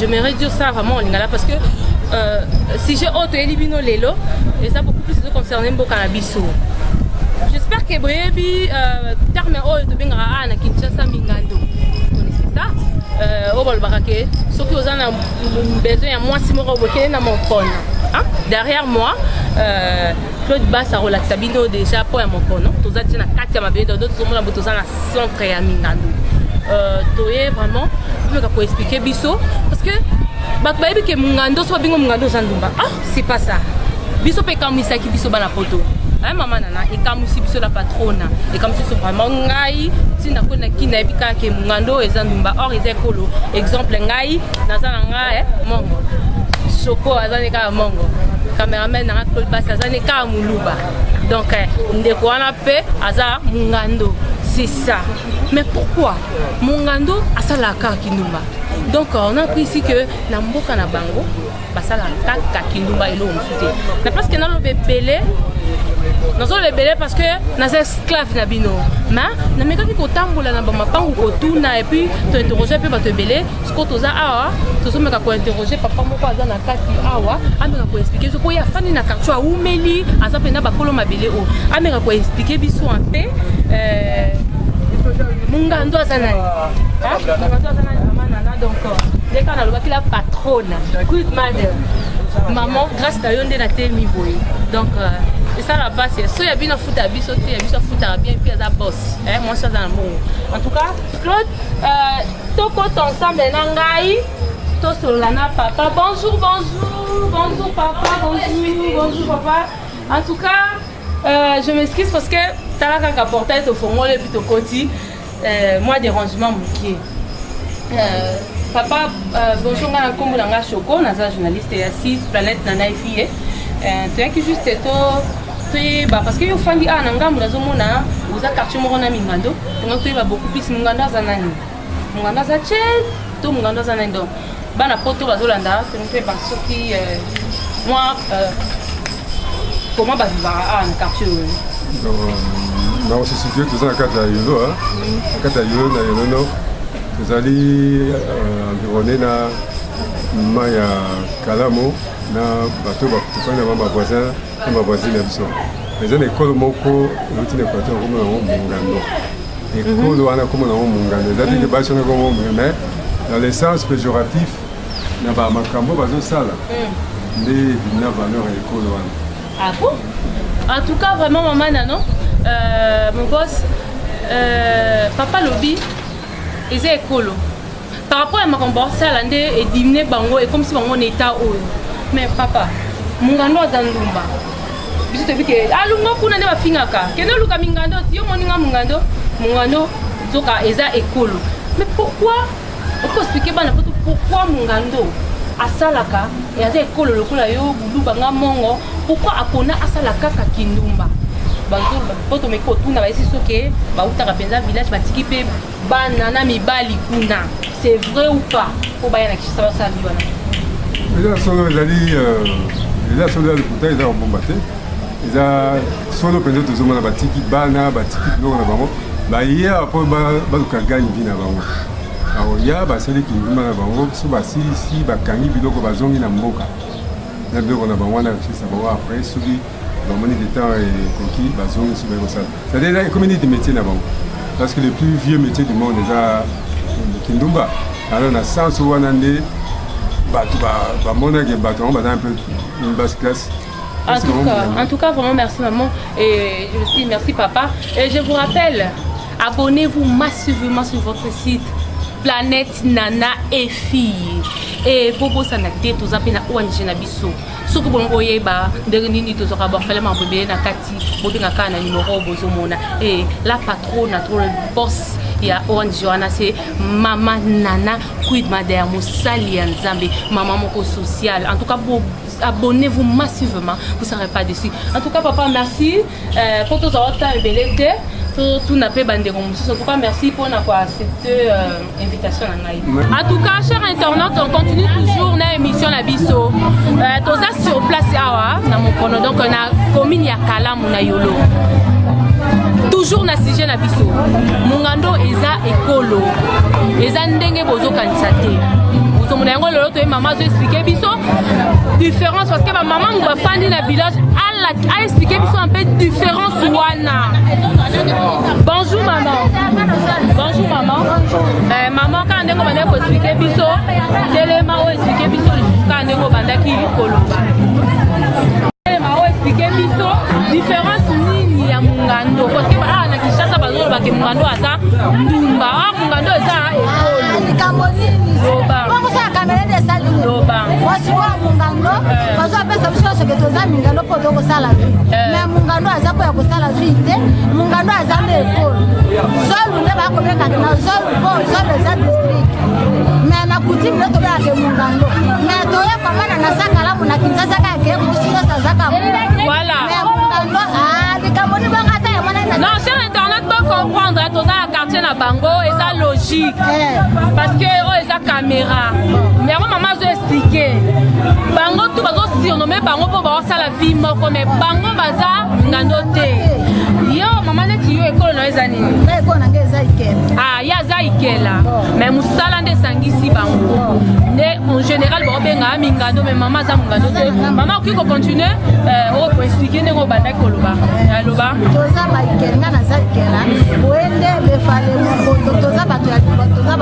Je me redis ça vraiment en lingala parce que euh, sujet oyo toyeli bino lelo eza beaucoup plus ezoconcerne mboka na biso j'espère que boyebi euh, terme oyo tobengaka awa na kinshasa mingando ça euh, oyo balobaka ke soki oza na besoin ya mwasi moko bokende na mokono derrière moi euh, claude bas akolakisa bino déjà mpo ya mokono toza te na kati ya mabele dodo tozomona bo toza na centre ya mingando euh, toye vraiment omeka koexplike biso parce que bato bayebi ke mungando so babingo mungando oza ndumba ah c'est pas ça biso mpe ekamwisaki biso bana poto aye mama nana ekamwisi biso la patrona ekamwisi biso vraiment ngai ntina koi na kini nayebi kaka ke mungando oyo eza ndumba or eza ekolo exemple ngai naza na nga eh, mongo soko aza ne kaka mongo cameraman nanga claude basi aza ne kaka moluba donc eh, ndeko wana mpe aza mungando c'est ça mais pourquoi mungando asalaka kaka kindumba donc on a pris ici que na mboka na bango basalaka kaka kindumba eloko mosusu te na place ke naloba ebele nazoloba ebele parce que naza esclave na bino ma namekaki kotambola na bamapangu kotuna epuis tointerroge mpe bato ebele sikoyo toza awa tozomeka kointerroge papa moko aza na kati awa ameka koexplike biso mpo ye afandi na quartier awumeli aza mpenza bakolo mabele oyo ameka koexplike biso mpe euh, mungando aza nani mungando aza nani mama nana donc euh, nde kaka nalobaki la patrona good mother maman grâce na yo nde natemi boye donc euh, esala basi so ya bino afuta biso te ya biso afutaka bien mpe aza bos eh, mwasi aza na mbongo en tout cas Claude, euh, tokota ensemble na ngai tosolola na papa bonjour bonjour bonjour papa bonjour bonjour papa en tout cas euh, je m'excuse parce que tala kaka portail tofongoli epuis tokoti euh, mwa dérangement mokie euh, papa euh, bonjour ngai na nkombo na ngai choco naza journaliste ya six planète na nai fille euh, toyaki juste to toyeba parce que yo ofandi awa na ngambo nazomona oza quartier moko na mingando donc toyeba beaucoup plus monganda aza nani monganda aza chel to monganda aza nani donc bana poto bazolanda tolingi toyeba soki euh, mwa euh, comment bavivaka awa ah, na quartier oyo na osisitue toza na kati ya yolo na mm. kati ya yolo na yolono tozali euh, environne na mai ya kalamu na bato bafani na bango bavoisin Ba voisine ya biso eza na ekolo moko euti na Equateur kombo nango Mungando. Ekolo wana kombo nango Mungando eza te ke basi wana kombo Mungando mais dans le sens péjoratif na ba makambo bazosala nde ebimi na valeur ya ekolo wana. Ah bon? En tout cas, vraiment, maman Nano, euh, mon boss, euh, papa Lobi, ils étaient écolos. par rapport ya makambo basala nde edimine bango ekomisi bango na etat oyo mais papa mungando aza ndumba biso toyebi ke alunga ah, kuna nde bafingaka kende oluka mingando yo moninga mungando mungando nzoka eza ekolo mais pourquoi okoexplike bana poto pourquoi mungando asalaka aza ekolo lokola yo buluba nga mongo pourquoi apona asala kaka kindumba bato meko otuna bayesi soki bautaka mpenza village batiki mpe bana na mibali kuna c'est vrai ou pas mpo baya na kishasa basala bi wana eza solo ezali euh, eza solo ya lokuta eza kobomba te eza solo mpenza tozomona batiki bana batiki biloko na bango baye awa mpo baluka gani vi na bango bakoya basali kindumba na bango so basilisi bakangi biloko bazongi na mboka na biloko na bango wana ya kishasa bango après soki bamoni ke temps ekoki bazongi soki ekosala cetadire eza ekomi niti métier na bango parce que le plus vieux métier du monde eza kindumba alors na sens wana nde bato bamonake bato yango baza un peu une basse classe En tout, cas, en tout cas, vraiment merci maman et je suis merci papa. Et je vous rappelle, abonnez-vous massivement sur votre site Planète Nana et Fille. Et Bobo Sanate, tous appelés à ONG Nabiso. soki bongo boyeba ndenge nini tozwaka baorfele makambo ebele na kati bobenga kaka na nimero bozomona e la patrona to boss ya ong wana se mama nana quid madaya mosali ya nzambe mama moko sociale en tout cas abonnez-vous massivement vous serez pas déçu en tout cas papa merci Euh, po tozwa wata temps ebele te totuna mpe bandeko mosusu en tout cas merci mpo na koaccepte euh, invitation na ngai en tout cas cher internaute on continue toujours na émission na biso euh, toza sur place awa na mokono donc na commune ya kalamu na yolo toujours na sujet na biso mongando eza ekolo eza ndenge bozokanisa te ozomona yango lelo toye mama azoexplike biso différence parce que bamama ngo bafandi na village a expliquer biso un peu différence wana bonjour maman bonjour maman euh, maman kaka ndenge obanda koexplike biso telema oyo explike biso lisusu kaka ndenge obandaki koloba telema oyo explike biso différence nini ya mungando parce que awa na kinshasa bazolobake mungando aza ndumba awa mungando eza ekolo likambo nini loba basikoyo ya mongando bazopesa biso nyonso ke toza mingando mpo tokosala vi eh. me mongando aza mpo ya kosala vi te mongando aza nde ekolo zolu nde bakobengaka na zolu mpo zolu eza district me na kutime nde tobengaka mongando me toye komona na sakalamu na kinzasa kaka ke mosi nyonso azaka me mongando ah, likambo libanga ata yamonana non sur internet bocomprendre toza na quartier na bango eza logique eh. parce que oyo oh, eza camera mais yango mama azo explike bango tu bazo surnome bango mpo baosala vie moko mais bango baza ngando te yo mama neti yo ekolo na yo eza nini ah, ye aza ikela mais mosala nde esangisi bango nde en général baobengaka mingando mais mama aza mongando te mama okoki kocontinue okoexplike euh, ndenge obandaki koloba aloba toza baikela nga naza ikela boye nde befale mokoto toza bato ya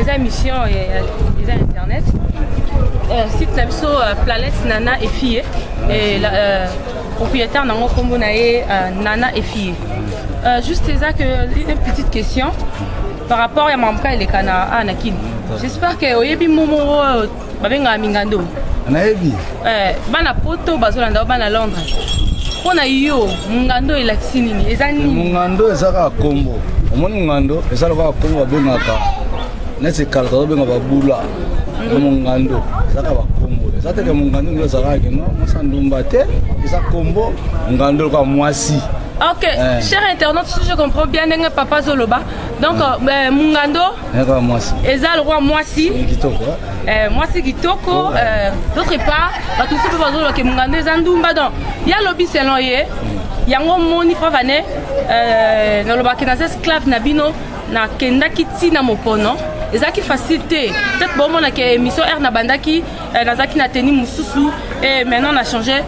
eza émission eza internet euh, site na biso euh, planète nana efie euh, propriétaire nango nkombo na ye nana efie juste eza que une petite question par rapport ya mamka elekana a na kini j'espère que oyebi momo babengaka mingando nayebi eh, bana poto bazolanda o bana londres mpo na yo mongando elakisi nini eza nini mongando eza kaka kombo omoni mongando eza lokola kombo babengaka neti kala tozobenga babula na mongando eza kaka bakombo eza teke mongando nde ezalaka kino mosa ndumba te eza kombo mongando lokola mwasi ok eh. cher internaute si je comprends bien ndenge papa azoloba donc eh. euh, mongando eza lokola mwasi eh, mwasi kitoko oh, eh, d'autre part bato mosusu mpe bazoloba ke mongando eza ndumba donc ya lobi selon ye mm. yango moni pavane eh, nalobaki naza esclave na bino nakendaki ntina mopono ezalaki facile te peut-être bomona ke émission r nabandaki nazalaki na teni mosusu e maintenant na change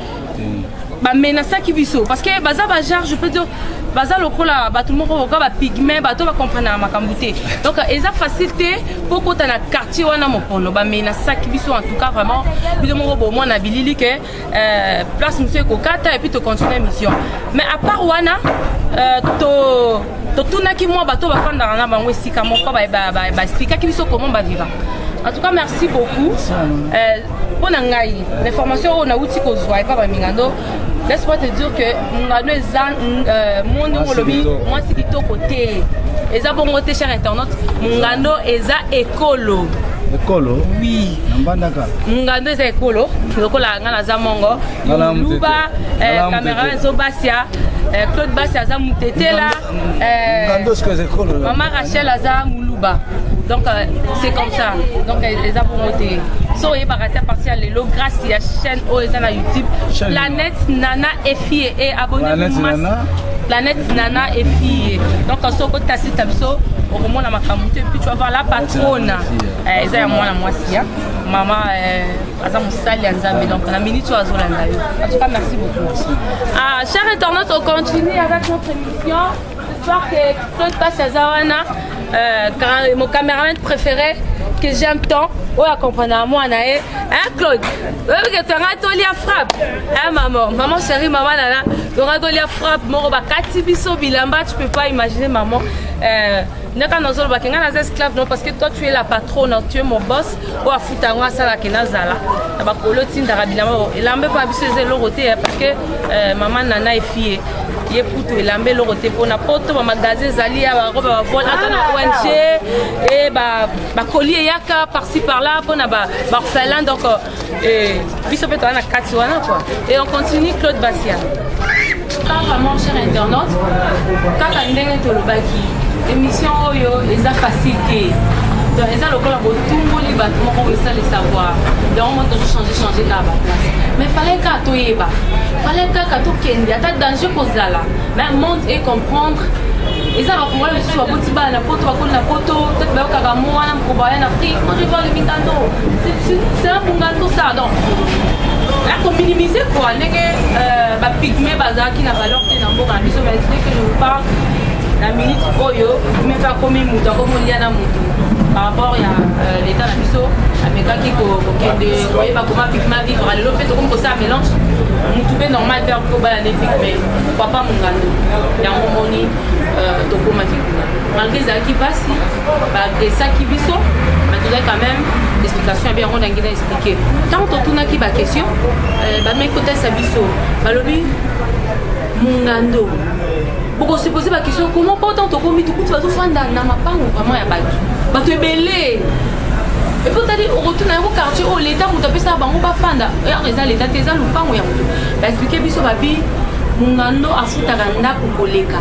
bamenasaki biso parce que baza bagenre je peux dire baza lokola bato moko boka bapigme bato bakomprenaka makambo te donc eza facile te mpo okota na quartier wana mokono bamenasaki biso en tout cas vraiment bino moko bomona bilili ke euh, place mosusu ekokata epuis tocontinue mission mais à part wana euh, to totunaki mwa bato bafandaka na bango esika moko baexplikaki biso comment baviva en tout cas merci beaucoup euh, mpo na ngai na information oyo nauti kozwa epa bamingando laisse moi te dire que mungano eza euh, monde oyo olobi mwasi kitoko te eza bongo te cher internaute mungano eza ekolo ekolo oui nambandaka mungando eza ekolo lokola ngai naza mongo luba eh, cameron ezobasia eh, claude basi aza mutetela Eh, mama rachel aza muluba donc euh, c'est comme ça donc eza bongo te so oyebaka te apartir ya lelo grâce ya chaîne oyo eza na youtube planète nana efie e abonne planète nana efie donc soko otasita biso okomona makambo te puis tu vas voir la patrona eh, eza ya mwana mwasi ya mama eh, aza mosali ya nzambe donc na minute oyo azolanda yo en tout cas merci beaucoup ah, cher internaute on continue avec notre émission j'espère que claude passe aza wana euh, mon cameraman préféré que j'aime tant oyo akomprendaka mwana ye hein claude oyebi ke tonga tolia frappe hein maman maman chérie maman nana tonga tolia frappe moko bakati biso bilamba tu peux pas imaginer maman euh, ndaka nazoloba ke ngai naza esclave non parce que toi tu es la patrone tu es mon boss oyo afuta yango asala ke nazala na bakolo otindaka bilamba elamba epa biso eza eloko te eh, parce que euh, mama nana efie ye kutu elamba eloko te mpona poto bamagasin ezali ya barobe bavole ata na ong e bakoli eyaka parci par là mpona baorphelin donc Eh, biso mpe toza na kati wana kua et on continue claude basia kaka mon cher internaute kaka ndenge tolobaki émission oyo eza facile te donc eza lokola botumboli bato moko esali savoir yango mo tozochange change kaka baplace mais fallai kaka toyeba fallai kaka tokende ata danger kozala mais monde et comprendre eza bakongole mosusu baboti bana na poto bakoli na poto peut bayokaka mo wana Koba en Afrique, moi je vois le Mikando. C'est un Mungando ça, donc. Là, qu'on minimise quoi, les euh, bah, pygmées, bazar qui n'a pas l'ordre, n'a pas l'ordre, mais dès que je vous parle, la minute oyo, mais pas comme une mouton, comme on y a un mouton. par rapport ya euh, l'état na biso amekaki kokende koyeba koma pigma vivre lelo mpe tokomi kosala mélange motu mpe normal mpe akobala nde pigme papa mongando yango omoni euh, tokomaki kuna malgré ezalaki mpasi baagresaki biso mais tozali quand même explication ya bien yango nangi na explike ntango totunaki baquestion euh, bameki kotalisa biso balobi mungando bokosepose baquestion comment po ntango tokomi tokuti bazofanda na mapango vraiment ya bato bato ebele epo otali okotuna yango quartier oyo leta moto apesaka bango bafanda yako eza leta te eza lopango ya moto baexplike biso babi mungando afutaka ndako koleka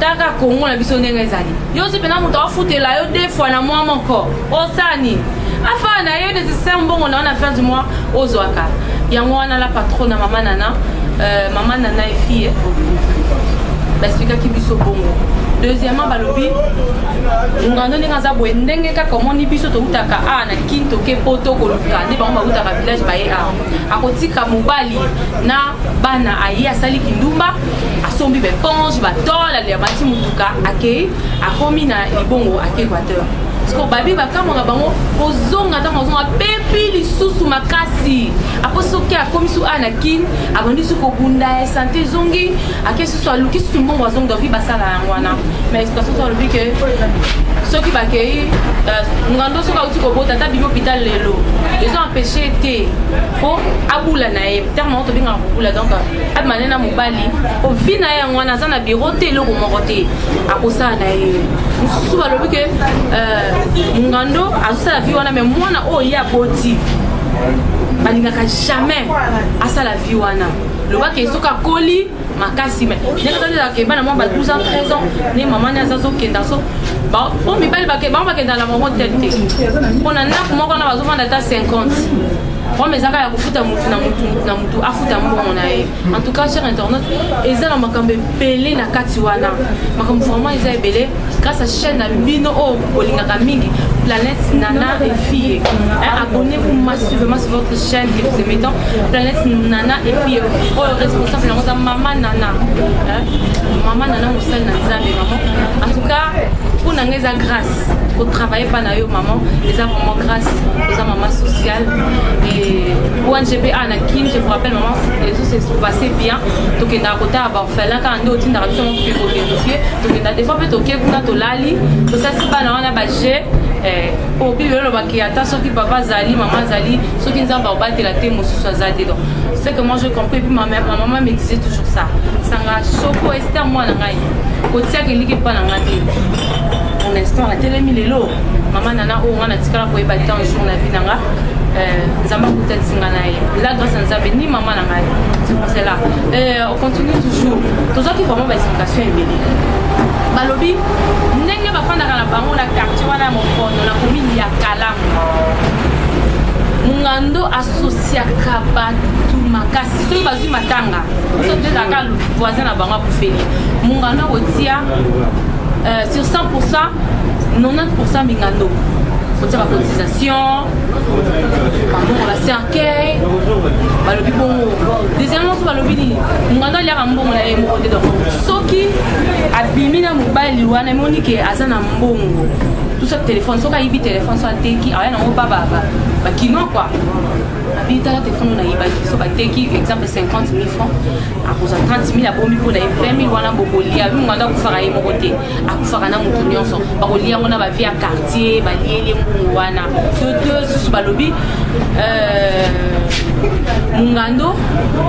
taka kongo na biso ndenge ezali yo osi mpena moto afutela yo de fois na mwa moko osala nini afaa na yo desisa mbongo na yo na fin du mois ozwaka yango wana la patron na mama nana euh, mama nana efie basplikaki biso bongo deuxièmement balobi ngando ndenge aza boye ndenge kaka omoni biso toutaka a na kin toke po tokoluka nde bango bautaka village baye a akotika mobali na bana aye asali kindumba asombi baeponge batole aliamati motuka akei akomi na libongo ake equateur siko babi bakamwa na bango kozonga ntango azonga apepi lisusu makasi apo soki akomi su a na kin abandi su kobunda ya sante ezongi ake susu aluki susu mbongo azongi davi basala yango wana ma explication so alobi ke soki bakei euh, ngando soki auti kobota ata bibi hôpital lelo ezo empêche te mpo abula na ye terme yango tobengaka kobula donc abimane na mobali po vi na ye yango wana aza na biro te eloko moko te akosala na ye mosusu balobi ke euh, mongando azosala vi wana me mwana oyo ye aboti balingaka jamais asala vi wana lobaka esoki akoli makasi me ndenge azalelaka ebana mwa ba 12 ans 13 ans nde mama ni aza azokenda so po mibali bango bakendaka na bango tete te mpo na ndako moko wana bazofanda ata 50 problème ezaka ya kofuta motu na motu motu na motu afuta mbongo na ye en tout cas cher internaute eza na makambo ebele na kati wana makambo vraiment eza ebele grâce à chaîne na bino oyo oh, bolingaka mingi planète nana efie abonnez vous massivement sur votre chaîne que vous aimez tant planète nana efie oyo oh, responsable yango eza mama nana mama nana mosali na nzambe vraiment en tout cas mpo na ngai eza grâce kotravaille epai na yo mama eza vraiment grâce oza mama sociale et ongb a na kin je vous rappelle mama ezo se passe bien tokendaka kotala baorphelin kaka nde otindaka biso moko koverifie tokenda des fois mpe toke kuna tolali tosasi bana wana baje eh, obi lelo olobaki ata soki papa azali mama azali soki nzambe akobatela te mosusu aza te donc ce que moi je compris puis ma, ma maman me disait toujours ça sanga soko ester mwana ngai kotiaka eliki mpa na ngai te pour l'instant natelemi lelo mama nana oyo nga natikala koyeba te un jour na vie na nga euh, nzambe akutanisi nga na ye la grâce ya nzambe ni mama na ngai c'est pour cela euh, on continue toujours tozwaki vraiment baexplication ebele balobi ndenge bafandaka na bango na quartier wana ya mokono na komini ya kalamu mungando asosiaka bato makasi soki bazwi matanga biso toyeka kaka voisin na bango akufeli mungano akotia euh, sur 100 90 mingando kotia bacotisation bambongo na cercueil balobi bongo deuxièmement so balobi nini mungando aliaka mbongo na ye moko te donc soki abimi na mobali wana emoni ke aza na mbongo tusa telefone soki ayibi telefone so ateki aya nango bababa bakinois kua abi tala telefone oyo nayibaki biso bateki exemple 50 mille franc akozwa 30 mille abomi mpo na ye 20 mille wana bokolia abi monganda akufaka ye moko te akufaka na motu nyonso bakolia yango na bavie ya quartier balieli mbungu wana to to susu balobi euh, mongando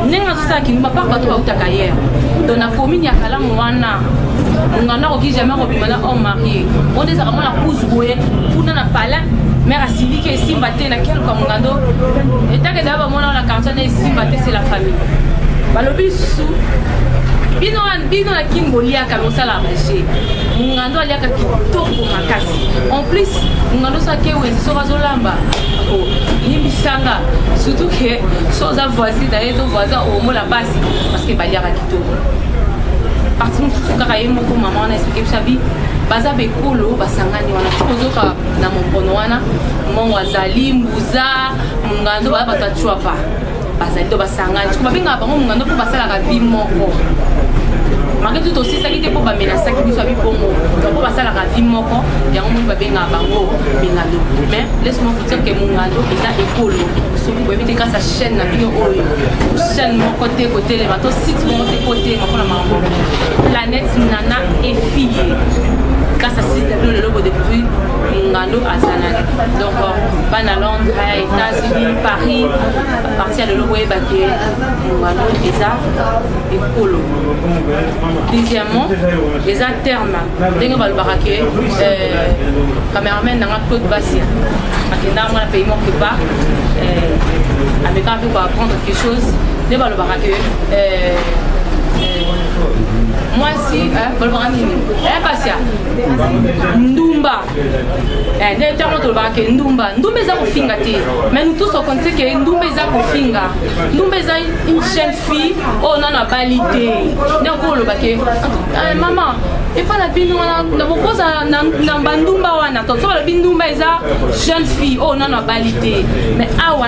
ndenge azosala kindumba par bato bautaka yere don na commune ya kalamu wana mongando akoki jamais kobima na homme marie oyo nde ezalaka mwana kuzu boye kuna na palin mare asiliki esimba te na kel kamungando etake daa bamona na quartier na esimba te c'est la famille balobi lisusu bino bino na kin boliaka bosala maje mungando aliaka kitoko makasi en plus mungando soki akewenzi soki azolamba limbisanga surtout ke so oza voisin na ye to voisin omona basi parce que baliaka kitoko parti mosusu kaka ye moko mama wana esplike bisabi baza bekolo basangani wana tikozoka na mompono wana mongo azali mbuza mongando baya bato ya cuapa bazali to basangani siko babengaka bango mongando mpo basalaka vi moko marke tu tosisaki te mpo bamenasaki biso ya bibongo donc mpo basalaka vi moko yango moni babengaka bango mingando mais laisse-moi vous dire que mongando eza ekolo soki boyebi te grâce ya chaîne na bino oyo chaîne moko te kotelema to site moko te kotelema mpo na makambo Net nana efiye kasa site do lelo bodécouvrir ngando azalaki donc bana londres états-unis paris parti ya lelo boyeba ke ngando eza ekolo deuxièmement eza terme ndenge balobaka ke euh, cameraman nanga claude basia akendaka mwana pays moko epa euh, amekaka mpe koapprendre quelque chose nde balobaka ke euh, mwasi balobaka nini pasia ndumba nde ntango tolobaka ke ndumba ndumba eza kofinga te mais nous tous okonise ke ndumba eza kofinga ndumba eza une jeune fille oyo nano abali te nde oko oloba ke mama epa na bino wana na bokoza na bandumba wana toso balobi ndumba eza jeune fille oyo nano abali te mais awa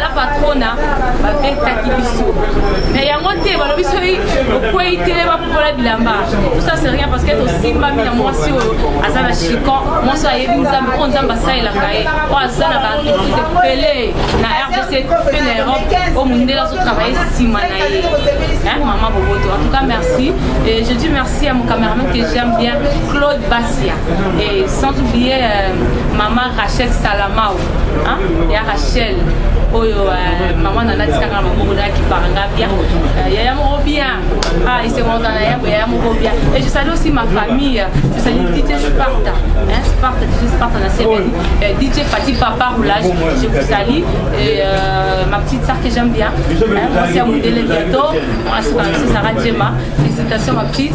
la patrona babetaki biso na yango te balobi soki okwei te bapopola bilamba tosa se rien parce que tosimbami na mwasi oyo aza na chicon mwasi oyo ayebi nzambe oyo nzambe asalelaka ye oyo aza na baretrite ebele na rdc mpe na europe oyo mondele azotravaille nsima na ye mama boboto en tout cas merci et je dis merci à mon cameraman que j'aime bien claude basia et sans oublier euh, mama rachel salamao ya rachel oyo euh, mama na nati kaka na maboko na akipaka nga bia euh, yaya moko bia ah isekonza na yabo yaya moko bia et je salue aussi ma famille je salue DJ Sparta hein Sparta DJ Sparta na CBN euh, DJ Fatih Papa Roulage je vous salue et euh, ma petite sœur que j'aime bien hein, moi c'est Amundele bientôt moi c'est Sarah Djema félicitations ma petite